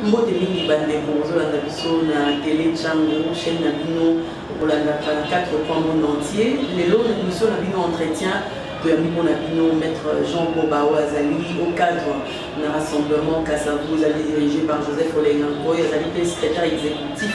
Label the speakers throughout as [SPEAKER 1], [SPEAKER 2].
[SPEAKER 1] mbote mingi bandeko bozolanda biso na tele chango chaîne na bino kolandaka 4 coin monde entier lelo na émission na bino entretien toyambi mpo na bino maître jean boba oyo azali au cadre na rassemblement kasavu ezali dirigé par joseph olenga nkoy azali mpe secrétaire exécutif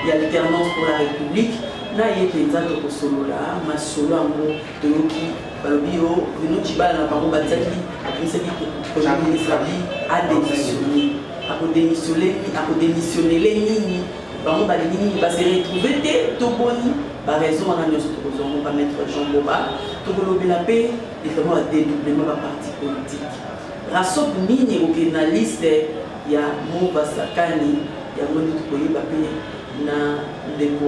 [SPEAKER 1] ya alternance pour la république na ye mpenza tokosolola masolo yango toyoki balobi yo Bruno Tshibala na bango batiaki abimisaki projet ministre abi ademissione akodemissione akodemissionnele nini bango balingi nini base retrouve te to boni baraison wana nyonso tokozwa ngo bamaître jean boba tokolobela mpe vraiment ya dédoublement baparti politique rasop nini ekokende na liste ya mobasakani yango nde tokoyeba mpe na ndeko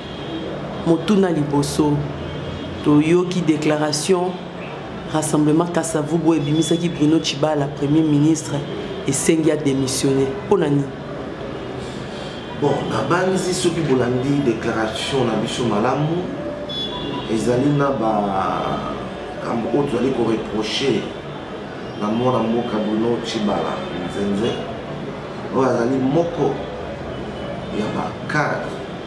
[SPEAKER 1] motuna liboso toyoki declaration rassemblement kasavubu ebimisaki bruno chibala premier ministre esengi ya démissionner mpo na nini
[SPEAKER 2] bon nabanzi soki bolandi déclaration na biso malamu ezali na bakambo oyo tozali koreproche na mwana mboka bruno chibala nzenze oyo azali moko ya bacadre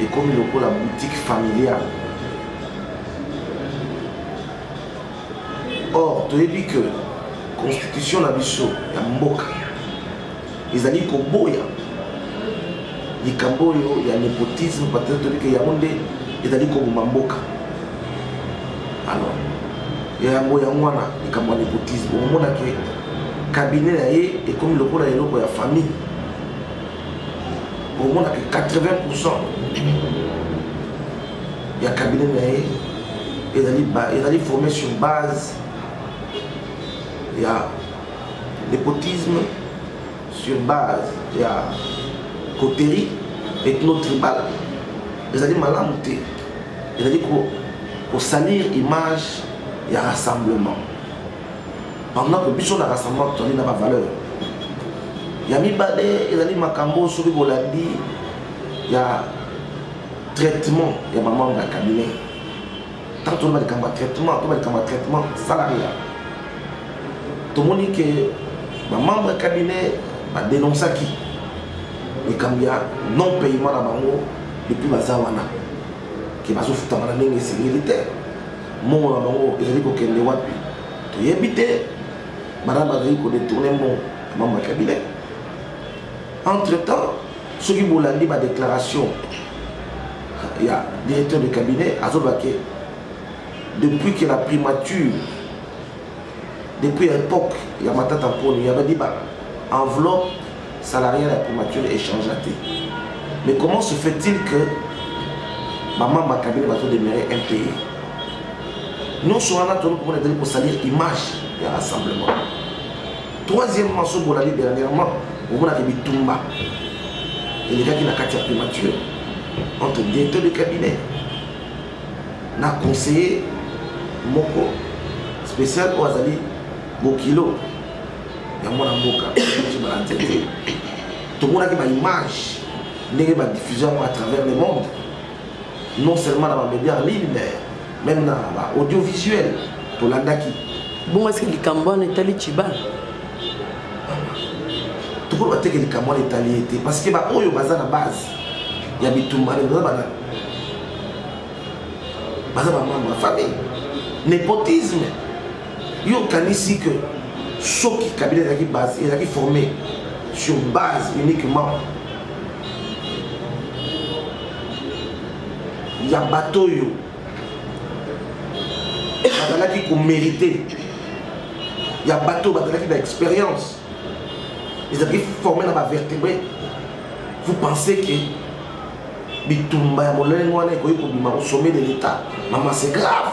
[SPEAKER 2] ekomi lokola boutique familiale or toyebi que constitution na biso ya mboka ezali koboya likambo oyo ya nepotisme patete toyebi ke yango nde ezali koboma mboka alors yango yango wana likambo ya nepotisme omonake kabine na ye ekomi lokola eloko ya famille omonaka 80 pourcent ya cabinet na ye ezali formé sur base ya nepotisme sur base ya coterie ethno-tribal ezali malamu te ezali kosalir image ya rassemblement bandako biso na rassemblement tozali na bavaleur ya mibale ezali makambo soki bolandi ya traitement ya bamambre ya cabinet ntango toloba likambo ya traitement toba likambo ya traitement salaria tomoni ke bamambre ya cabinet badenonsaki likambo ya non payement na bango depuis baza wana ke bazofutama na ndenge esengeli te mbongo na bango ezali kokende wapi toyebi te bana bazali kodetourne mbongo ya mambo ya cabinet entre temps soki bolandi badéclaration ya directeur de cabinet azoloba ke depuis que la primature depuis époque ya matata mponi yabadi ba enveloppe salarial ya primature echangea te mais comment se fait-il que bamambo ya kabila bazodemere impayé nyonso wana toli komona ezali kosalir image ya rassemblement troisièmement so bolali dernièrement omonaka bitumba elekaki na kati ya primature entre directeur de cabinet na conseiller moko spécial oyo azali bokilo ya mwana mboka biso balandi te tomonaki baimage ndenge badiffusion yango à travers le monde non seulement na bamédia en ligne mais même na baaudiovisuel tolandaki bongo eske
[SPEAKER 1] likambo wana etali ciba
[SPEAKER 2] tokoki bateke likambo wana etali ye te parce que baoyo baza na base ya bitumba baza bana baza bamambre ya famille népotisme yo okanisi que soki kabila ezalaki base ezalaki formé sur base uniquement ya bato oyo bazalaki komérite ya bato oyo bazalaki na expérience ezalaki formé na bavertébré vous pensez que bitumba ya molenge wana ekoki kobima au sommet de l'état mama c'est grave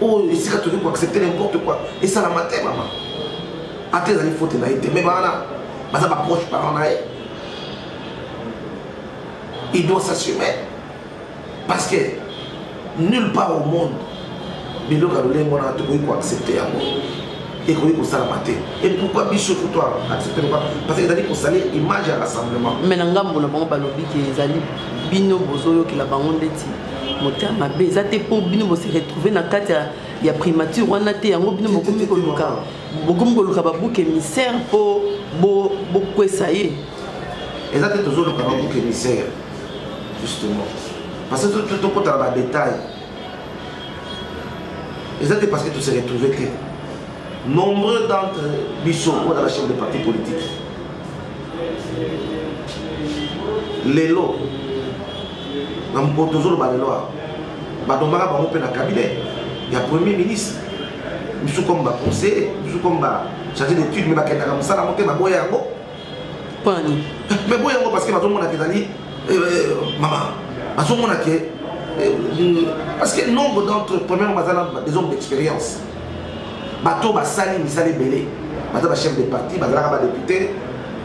[SPEAKER 2] oyo esika tokoki koaccepte n'importe quoi esalama te mama ata ezali fote na ye te me bawana baza baproche parent na ye il doit s'assumer parce que nulle part au monde biloko ya lolenge wana tokoki koaccepte yango ekoki kosalama te et pourquoi biso kutu accepte loka parce que ezali kosalir image ya rassemblement mais na ngambo na bango
[SPEAKER 1] balobi ke ezali bino bozoyokela bango ndeti motema mabe eza te mpo bino bose retrouve na kati ya primature wana te yango bino bokomi koluka bokomi koluka babuke émissaire mpo bokwesa ye eza
[SPEAKER 2] te tozoluka babuke émissaire justement parce que tokotala badetail eza te parce que tose retrouve te nombreux d'entre biso oyo na bachef de parti politique lelo na mokolo tozoloba lelo awa batombaka bango mpe na cabinet ya premier ministre bisu comme baconseiller bisu comme bacharge d'étude mai bakendaka mosala yango te baboya yango pani mai boya yango parce que bazomonaka ezali eh, eh, mama bazomona ke eh, mm, parce que nombre d'entre premièrement baza na des hommes d'expérience bato basali misala ebele baza bachef de parti bazalaka badepute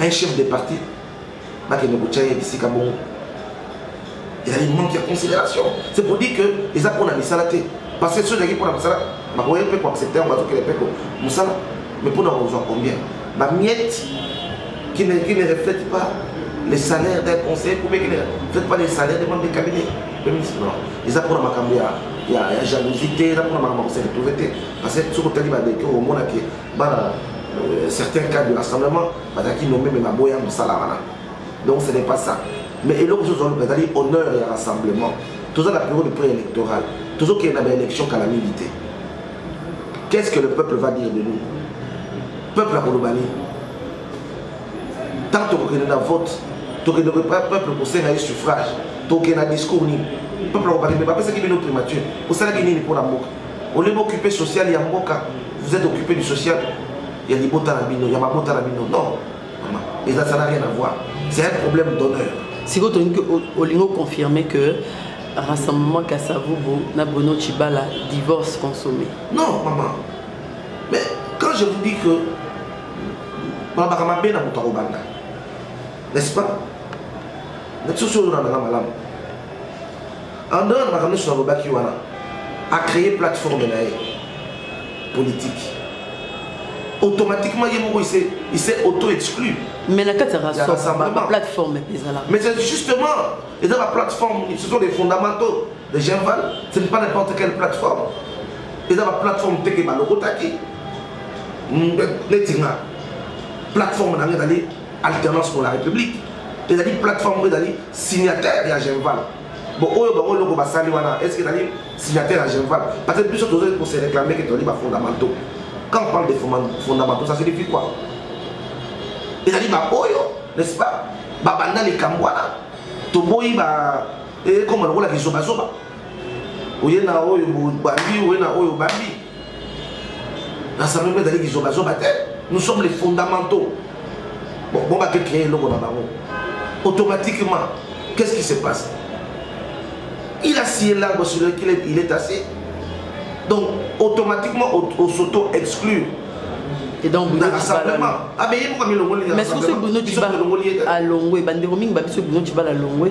[SPEAKER 2] un chef de parti bakende kotya ye bisika bongo ezali manque ya considération c'est pour dire que eza mpona misala te parce que soki ezalaki mpona misala bakoye mpe koaccepte yango bazokele mpe mosala mais mpona kozwa combien bamiette qui ne, qui ne reflète pas les salaires d'un conseiller ou bien qui ne reflète pas les salaires des membres du cabinet le ministre non eza mpona makambo ya ya jalousie te eza mpona makambo ya koseretrouve te parce que soki otali badeke omonake bana euh, certains cas de rassemblement bazalaki nombe me baboya mosala wana donc ce n'est pas ça mais eloko mosusu ozoluka ezali honneur ya rassemblement toza na période pré électorale tozokende na baélection kala mingi te qu'est ce que le peuple va dire de nous peuple akoloba nini ntango tokokende na vote tokende peuple kosenga ye suffrage tokende na discours nini peuple akobakende bapesaki bino primature osalaki nini mpo na mboka au lieu boccupe social ya mboka vous êtes occupé du social ya libota na bino ya mabota na bino non eza ça n'a rien à voir c'est un problème d'honneur sikoyo tolingi
[SPEAKER 1] olingi oconfirme que rassemblement kasavubu na bono chibala divorce consommé non maman
[SPEAKER 2] mais quand je vous dis que balobaka mabe na moto akobanda n'est-ce pas na biso soyo na nanga malamu En dehors de makambo nyonso nalobaki wana, a créer plateforme na ye politique. Automatiquement, ye moko, il s'est auto-exclu. Mais na kati ya
[SPEAKER 1] rassemblement, la plateforme ezala. Mais c'est
[SPEAKER 2] justement, et dans la plateforme, ce sont les fondamentaux de Genval, ce n'est pas n'importe quelle plateforme. Et dans la plateforme, c'est que Balokotaki, Netinga, plateforme na ngedali alternance pour la république ezali plateforme oyo ezali signataire ya genval Bon, oyo bango loko basali wana, est-ce que ezali signataire ya Genval Parce que biso tozali ko se réclamer que tozali ba fondamentaux. Quand on parle de fondamentaux, ça signifie quoi Ezali ba oyo, n'est-ce pas Babanda likambo wana, toboyi ba ekoma eh, lokola kizobazoba. Oye na oyo bandi, oye na oyo bandi. rassemblement ezali kizobazoba te nous sommes les fondamentaux bon bo bake créer eloko na bango automatiquement qu'est-ce qui se passe il a scié l'arbre sur lequel il est assis donc automatiquement au s'auto exclure et
[SPEAKER 1] donc mais
[SPEAKER 2] soki bruno tibala
[SPEAKER 1] alongwe bandeko mingi babiso bruno tibala alongwe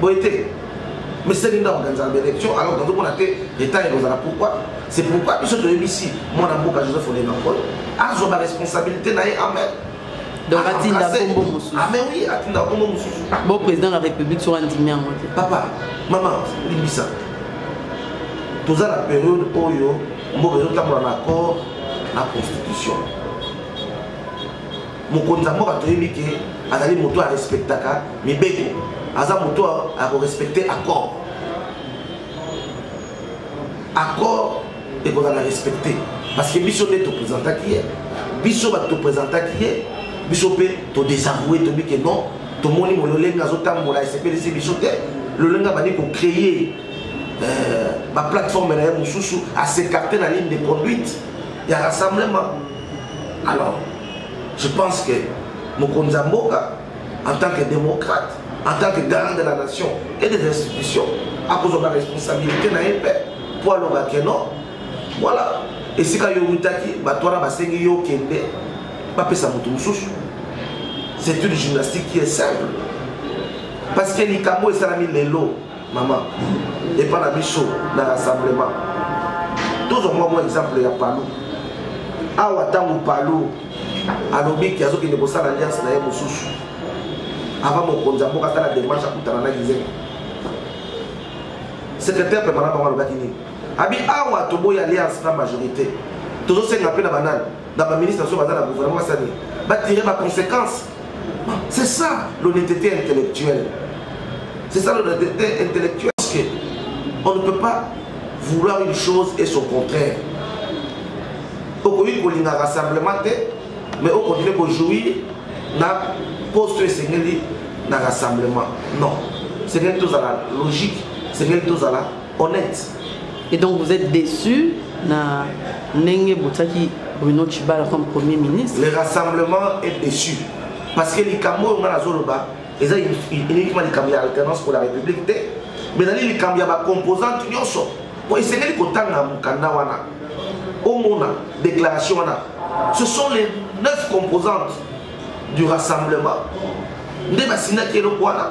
[SPEAKER 2] boye te meseli nde organizaka baélection alors tozo mona te retard ekozala pourquoi c'est pourquoi biso toyebisi mwana mboka joseph olemakol azwa baresponsabilité na ye amen donc atinda
[SPEAKER 1] kombo mosusu ah, oui atinda
[SPEAKER 2] kombo mosusu bo président la
[SPEAKER 1] république soki andimi yango te papa
[SPEAKER 2] mama limbisa toza na période oyo mboka ezotambola na accord na constitution mokonzi ya mboka toyebi ke azali moto arespektaka mibeko aza moto ya korespecte accord accord ekozala respecte parce que biso nde topresentaki ye biso bato topresentaki ye biso mpe todesavoue tobi ke non tomoni mololenge azotambola esepelisi biso te lolenge abandi kocreye euh, baplateforme na ye mosusu asekarte na ligne de conduite ya rassemblement alors je pense que mokonzi ya mboka en tant que démocrate en tant que garant de la nation et des institutions akozwa ba responsabilité na ye mpe mpo aloba ke non voilà esika yo outaki bato wana basengi yo okende bapesa moto mosusu c'est une gymnastique qui est simple parce que likambo esalami lelo mama epa na biso na rassemblement tozwa mwa mwa exemple ya palu awa ntango palu alobi ke azokende kosala alliance na ye mosusu avant mokonzi ya mboka asala demarche akutana na gizenga secrétaire pemana bango alobaki nini abi awa toboyi alliance na majorité tozosenga mpe na banani na baministre so baza na gouvernement basani batire baconséquence C'est ça l'honnêteté intellectuelle. C'est ça l'honnêteté intellectuelle. Parce que on ne peut pas vouloir une chose et son contraire. okoki kolinga rassemblement te mais okontinue kojouir na poste oyo esengeli na rassemblement non esengeli tozala logique esengeli tozala honnête et donc vous
[SPEAKER 1] êtes déçu na ndenge botiaki bruno chibala comme premier ministre le rassemblement est déçu
[SPEAKER 2] parce que likambo oyo ngai nazoloba eza uniquement likambo ya alternance pour la république te mais ezali likambo ya bacomposante nyonso mpo esengeli kotanga mokanda wana omona déclaration wana ce sont les neuf composantes du rassemblement nde basindaki eloko wana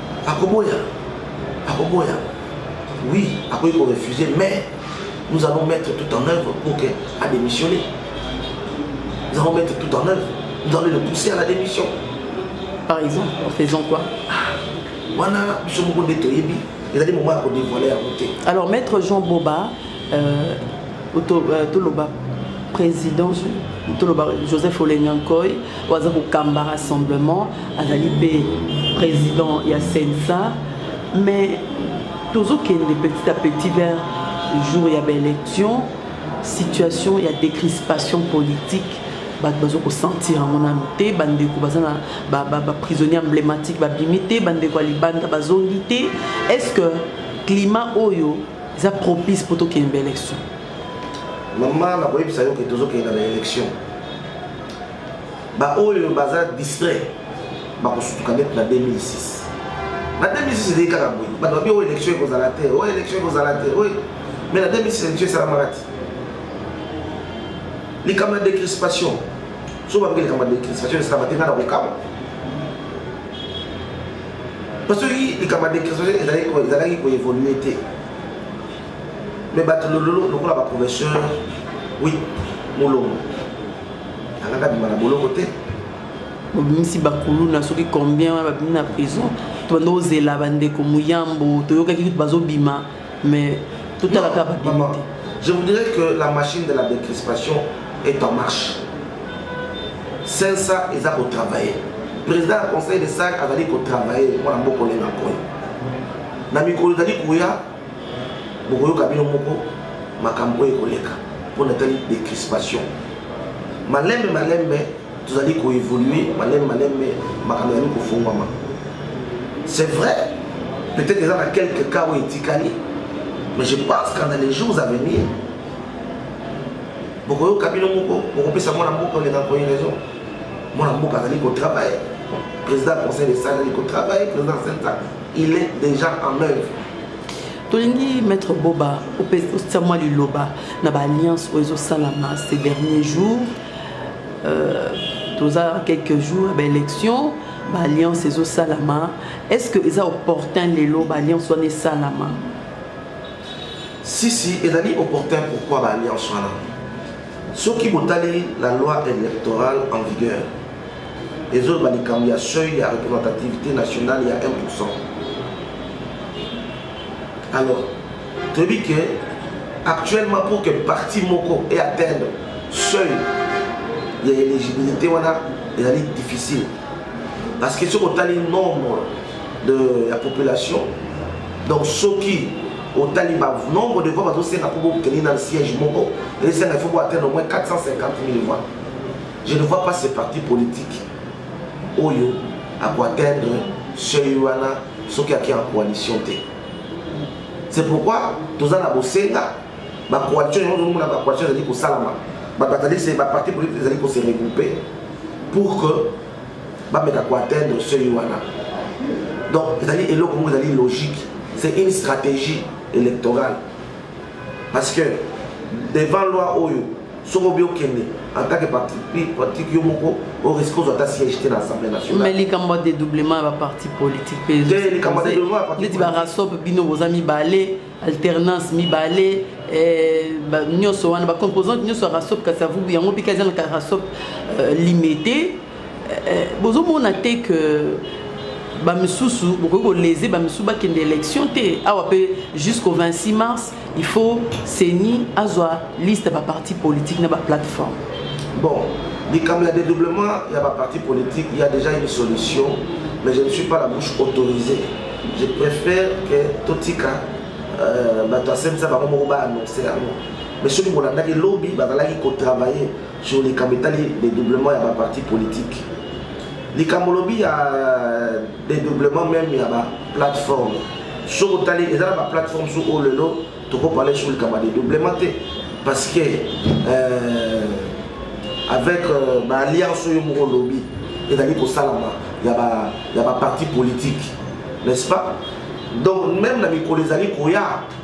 [SPEAKER 2] akoboya akoboya oui akoki korefuser mais nous allons mettre tout en œuvre pour que adémissionne nous allons mettre tout en œuvre nous allons le pousser à la démission par
[SPEAKER 1] exemple en faisant quoi ah, wana biso moko nde toyebi ezali moment ya kodevoile yango te alors maître jean boba euh, toloba président toloba joseph olenyankoy oyo aza kokamba rassemblement azali mpe président ya sensa mais tozokende petit à petit vers jour ya baélection situation ya décrispation politique bato bazo kosentir yango nano te bandeko baza na baprisonnier ba, ba emblématique babimi te bandeko ya libanda bazongi te est ce que climat oyo eza propice mpo tokende ba élection mama
[SPEAKER 2] nakoyebisa yo ke tozokende na élection baoyo baza distrait bakosutuka ndeti na 2006 na 2006 ezali kaka boye bato babi oyo élection ekozala te oyo élection ekozala te oyo mais na 2006 élection esalamaka te likambo ya décrispation so bakoki likambo ya décrispation esalama te ngai na kokaba mpo soki likambo ya decresation ezalaki ezalaki koévolue te me bato lololo lokola baprofesseur wi molongo alaka bima na boloko te babimisi
[SPEAKER 1] bakuluna soki combien wana babimi na prison tobanda ozela bandeko moyambo toyokaki kutu bazobima mais totala kaka babimi te je vous dirais que
[SPEAKER 2] la machine de la décrispation est en marche sensa eza kotravaille président ya conseil de sac azali kotravaille mwana mboka olenga koyo na mikolo ezali koya bokoyoka bino moko makambo oyo ekoleka mpo natali décrispation malembe malembe tozali koevolue maleme maleme makambo ezali kofungwama c'est vrai peut-être eza na quelque cas oyo etikali mais je pense qu'en les jours à venir bokoyoka bino moko bokopesa mwana mboka oleka koyi raison mwana mboka azali kotravaille président conseil de sal azali kotravaille président senta il est déjà en œuvre tolingi
[SPEAKER 1] maître boba otia mwa liloba na baalliance oyo ezosalama ces derniers jours euh, toza quelques jours ba élection ba alliance ezosalama est ce que eza opportun lelo ba alliance wana esalama si
[SPEAKER 2] si ezali opportun pourquoi ba alliance wana soki botali la loi électorale en vigueur ezoloba likambo ya seuil ya représentativité nationale ya 1 alors toyebi ke actuellement pour que parti moko e atteindre seuil ya éligibilité wana ezali difficile parce que soki otali nombre de la population donc soki otali ba nombre de voix bazosenga mpo bokende na siège moko esenga ifo boatteindre au moins 450 000 voix je ne vois pas ce parti politique oyo akoatteindre seuil wana soki ake en coalition te c'est pourquoi toza na bosenga bacoalition yango tozomona bacoalition ezali kosalama bato bazali se baparti politique ezali kose regroupe pour que bameka koatteindre seuil wana donc ezali eloko moko ezali logique c'est une stratégie électorale parce que devant loi oyo soko obi okende en tant que parti politique yo moko oriske ozwa ata siège te na assemblée nationale mais likambo ya dédoublement
[SPEAKER 1] ya baparti politique mpe likambo ya dédoublement ya parti neti barasop bino boza mibale alternance mibale eh, nyonso wana bacomposante nyonso ya rasop kasi avubu yango mpe kaza na rasop euh, limité eh, eh, bozomona te que bamisusu bokoki kolese bamisusu bakende élection te awa mpe jusqu'au 26 mars il faut ceni azwa liste ya baparti politique na baplateforme bon
[SPEAKER 2] likambo ya dédoublement ya baparti politique il y a déjà une solution mais je ne suis pas la bouche autorisée je préfère que totika euh, bato asemisa bango moko baannonce yango mais soki bolandaki lobi bazalaki kotravaille sur likambo etali dédoublement ya baparti politique likambo olobi ya euh, dédoublement meme ya baplateforme soki otali eza na baplateforme so oyo lelo tokoparle sur likambo ya dédoublement te parce que euh, avec euh, baalliance oyo moko olobi ezali kosalama ya baparti politique n'est-ce pas donc même na mikolo ezali koya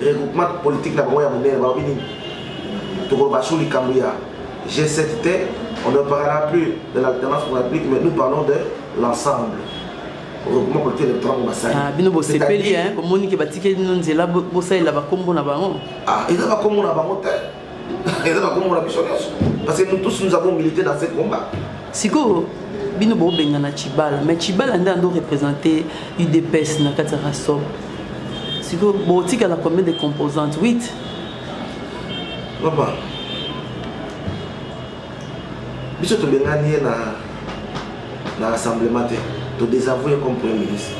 [SPEAKER 2] regroupement politique na bango ya monene balobi nini tokoloba sur likambo ya g7 te on ne parlera plus de l'alternance pour la république mais nous parlons de l'ensemble regroupement politique électoral ngo basali Ah, bino bosepeli
[SPEAKER 1] hein, bomoni ke batikeli bino nzela bo- bosalela bakombo na bango ah eza
[SPEAKER 2] bakombo na bango te eza na komona biso nyonso parce que nous tous nous avons milité dans ce combat sikoyo
[SPEAKER 1] bino bobengana chibala mais chibala nde ando représente udps na kati ya rasob sikoyo botikala combien de composantes 8
[SPEAKER 2] papa biso tobengani ye na na rassemblement te todésavoue comme premier ministre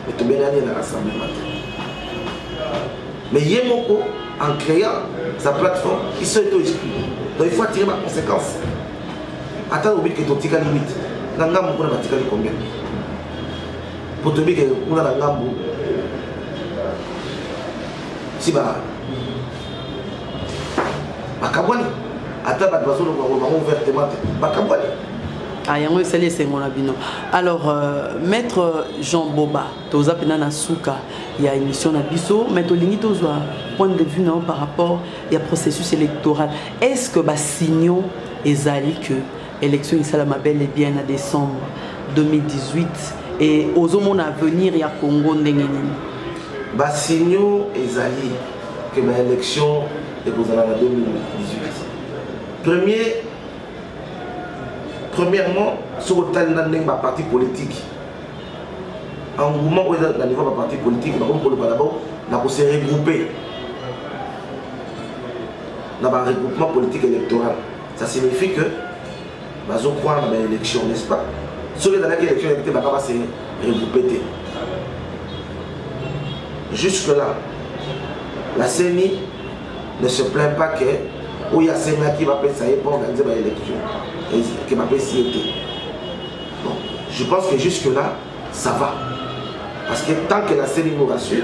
[SPEAKER 2] etobelani na rassemblement te mais ye moko en créant sa plateforme il se to exclu donc il faut attirer baconséquence ata lobi ke totikali 8 na ngambo kuna batikali combien po toyebi ke kuna na ngambo si ba bakabwani ata bato bazoloba ngo bango ouvertement te bakabwani ah, yango
[SPEAKER 1] esali esengo na bino alors euh, maître jean boba toza mpena na suka ya émission na biso mais tolingi tozwa point de vue na yo par rapport ya processus électoral est ce que basignaux ezali que élection esalama bel et bien na décembre 2018 et ozomona avenir ya congo ndenge nini
[SPEAKER 2] basignaux ezali que ba élection ekozala na 2018 premier premièrement soki otali na ndenge baparti politique engouement oyo eza na niveau ya baparti politique bakomi koloba na bango na kose regroupe na baregroupement politique électoral ça signifie que bazo croire na ba élection n'est-ce pas soki ezalaki élection ya te baka ba se regrouper te jusque là la CENI ne se plaint pas que oyo asengaki bapesa ye mpo organise baélection ke bapesi ye te bon je pense que jusque là ça va parce que tant que la CENI nous rassure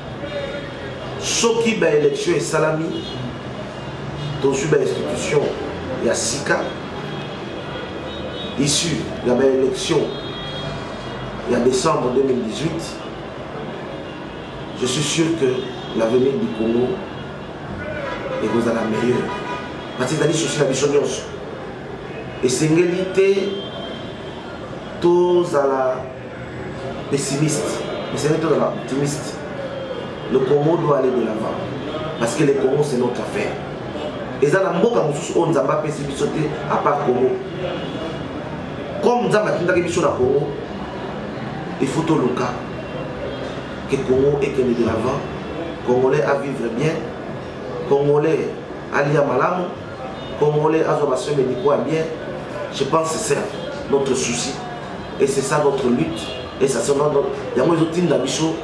[SPEAKER 2] soki ba élection esalami tozwi ba institution ya sika issu ya ba élection ya décembre 2018 je suis sûr que l'avenir du congo ekozala meilleur parce ezali susi na biso nyonso esengeli te tozala pessimiste esengeli tozala optimiste le congo doit aller de l'avant parce que le congo c'est notre affaire eza na mboka mosusu oyo nzambe apesi biso te apart congo comme nzambe atindaki biso na congo il faut toluka que congo ekende de l'avant congolais a vivre bien congolais alia malamu congolais azwa basoin medicaux ya bien je pense c'est ça notre souci et c'est ça notre lutte et ça sera notre yango ezotinda biso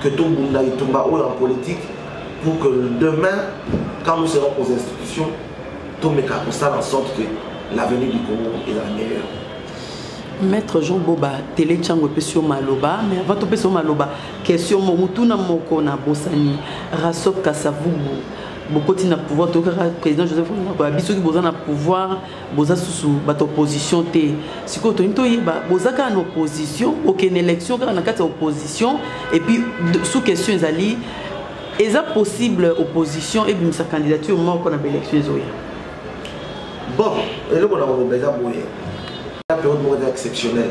[SPEAKER 2] que tobunda etumba oyo en politique pour que demain quand nous serons aux institutions tomeka kosala en sorte que l'avenir du congo est la meilleure
[SPEAKER 1] maître jean boba tele ntango epesi yo maloba mais avant topesi yo maloba question mo motuna moko na bosani rasop kasavubu bokoti na pouvoir tokaka président joseph nakoya biso soki boza na pouvoir boza susu bato opposition te sikoyo tolingi toyeba boza kaka na opposition okende élection kaka na kati ya opposition et puis sous question ezali eza possible opposition ebimisa candidature moko na baélection ezoya
[SPEAKER 2] bon eloko na koloba eza boye na periode moko eza exceptionnel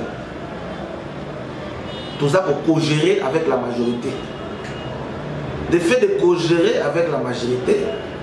[SPEAKER 2] toza kokogere avec la majorité le fait de cogérer avec la majorité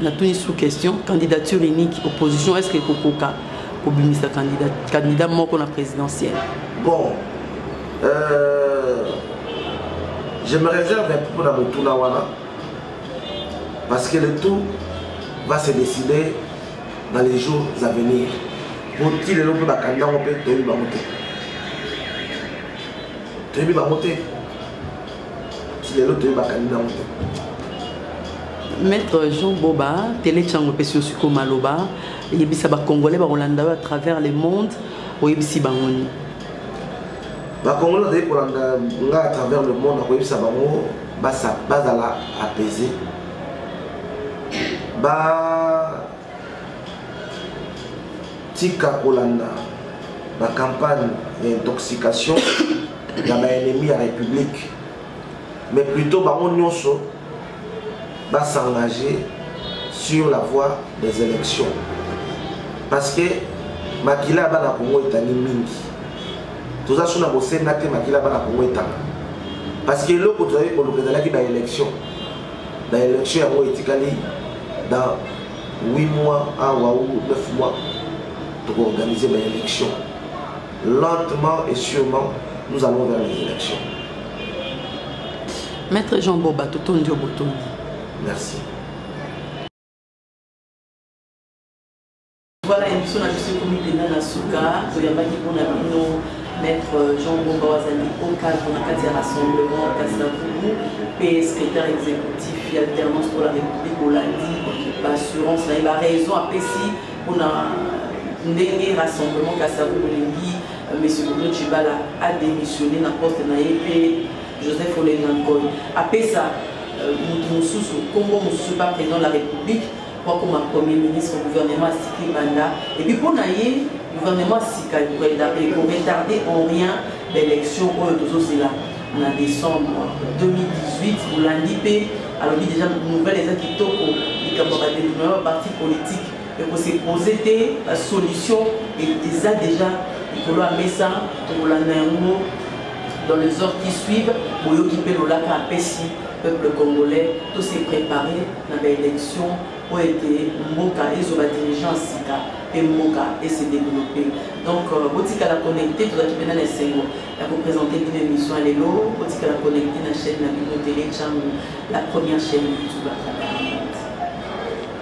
[SPEAKER 1] natuni sous question candidature unique opposition est ce que ekokoka kobimisa candidat, candidat moko na présidentielle bon euh,
[SPEAKER 2] je me réserve un peu na motuna wana parce que le tout va se décider dans les jours à venir po ti lelo mpe bakandi yango mpe toyebi bango te toyebi bango te lelo toyebaka nini yango te maître jean
[SPEAKER 1] boba tele ntango epesi osiko maloba yebisa bacongolais bakolanda yo à travers le monde oyebisi bango nini
[SPEAKER 2] bacongolais bazali kolanda nga à travers le monde akoyebisa bango bazala apaisé ba tika kolanda ba campagne ya intoxication ya ba ennemi ya république mais plutôt bango nyonso ba s'engager sur la voie des élections parce que makila ya bana kongo etani mingi toza so na bosenga te makila ya bana kongo etanga parce que eloko tozali koluka ezalaki ba élection na election yango etikali dans 8 mois awa ou 9 mois tokoorganize baélection lentement et sûrement nous allons vers les élections
[SPEAKER 1] maître jean boba totondi yo botondi merci Voilà émission na biso ekomi mpenza na suka toyambaki mpo na bino maître jean bomba wazali okadre na kati ya rassemblement kasi na vubu mpe secrétaire exécutif ya alternance pour la république olandi baassurance na ye baraison apesi mpo na ndenge rassemblement kasi ya vubu olingi euh, monsieur bodo cibala adémissionne na poste na ye mpe joseph olenga nkoy apesa euh, moto mosusu nkombo mosusu mpa président de la république bakoma premier ministre gouvernement asika ebanda epuis mpo na ye gouvernement asika ekoretarde en rien baélection oyo tozozela na décembre 2018 bolandi mpe alobi deja nouvelle eza kitoko likambo ya badevelopema ya parti politique ekose pose te basolution eza deja likolo ya mesa tokolanda yango Dans les heures qui suivent, boyoki mpe lolaka apesi peuple congolais to se préparer na ba élection mpo ete mboka ezo ba dirigeant sika mpe mboka ese développer donc euh, botikala connecté tozalaki mpena na esengo ya kopresente bino émission ya lelo botikala connecté na chaîne na bino tele chango la première chaîne youtube